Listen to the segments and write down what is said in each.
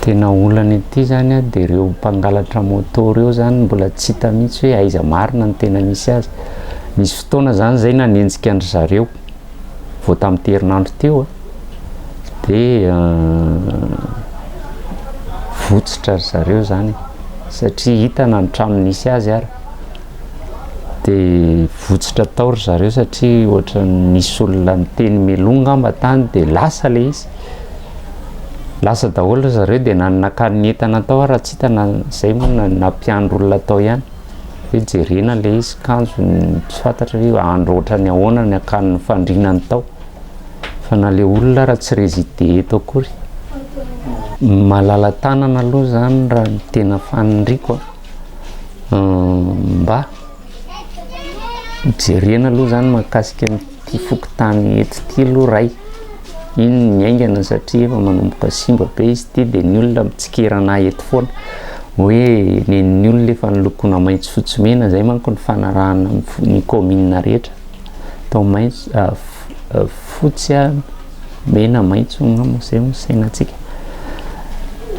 Tena olana ity zany a, de reo mpangalatra moto reo zany mbola tsy hita mihitsy hoe aiza marina ny tena misy azy, nisy fotoana zany zay nanenjika an-dry zareo vao tamty herinandro teo a, de votsotra ry zareo zany e, satria hitana ny trano nisy azy ary, de votsotra tao ry zareo satria ohatran'ny nisy olona niteny meloa ngamba tany de lasa le izy. lasa daholo ry zareo dia nanakany ny entana tao ary tsy hitana izay moa na nampiandry olona tao ihany hoe jerena ilay izy kanjo tsy fantatra hoe andro ohatrany ahoana ny akan'ny fandrinany tao fa na ilay olona raha tsy rezide eto akory malala tanana aloha zany raha ny tena faniriko mba jerena aloha zany mahakasika Ty fokontany eto ty aloha ray iny no miaingana satria efa manomboka simba be izy ty dia ny olona mitsikera anah eto foana hoe nen'ny olona efa nolokoina maitso fotsy mena zay manko ny fanarahana ny commune rehetra atao maitso ah, ah, fotsy ah, mena maitso angamba zay no sainantsika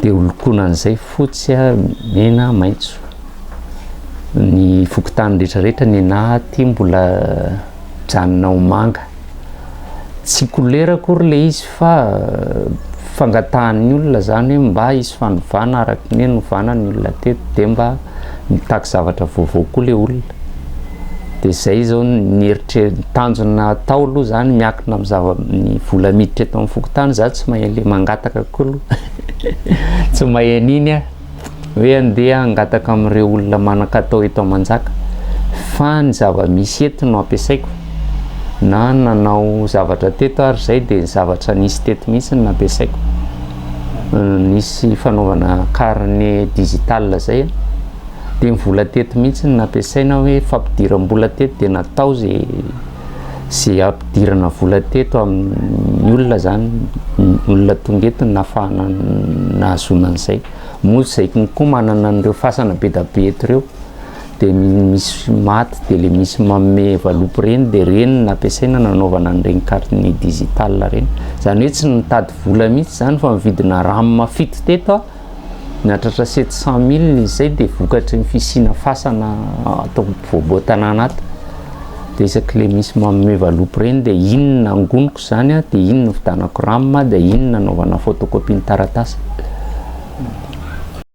dia holokona an'izay fotsy a mena maitso ny fokontany rehetrarehetra ny anah aty mbola mijanona ho manga. Tsy kolera akory le izy fa fangatahan'ny olona zany hoe mba hisy fanovana araka ny hoe novana ny olona teto de mba mitaky zavatra vaovao koa le olona. De zay zao ny eritre- ny tanjona atao aloha zany miakina amin'ny zava- ny vola miditra eto amin'ny fokontany za tsy mahay le mangataka koa aloha tsy mahay an'iny aho. Hoe andeha hangataka amin'ireo olona manan-katao eto Manjaka fa ny zava-misy eto no ampiasaiko na nanao zavatra teto ary izay dia ny zavatra nisy teto mihitsy no nampiasaiko. Nisy fanaovana carnet digital izay dia ny vola teto mihitsy no nampiasaina hoe fampidiram-bola teto dia natao izay sy ampidirana vola teto amin'ny olona zany olona tonga eto ny nafahana nahazoana an'izay moa izay koa manana an'ireo fasana be da be eto ireo dia misy maty dia le misy manome valopy reny dia reny nampiasaina nanaovana an'ireny carte ny digital reny zany hoe tsy nitady vola mihitsy zany fa mividina ram fito teto Nahatratra sept cent milles izy zay dia vokatry ny fisiana fasana ato am povoa tanàna ato dia isaky le misy manome valopy reny dia iny no angoniko zany dia iny no fitanako ram dia iny no nanaovana photocopie ny taratasy.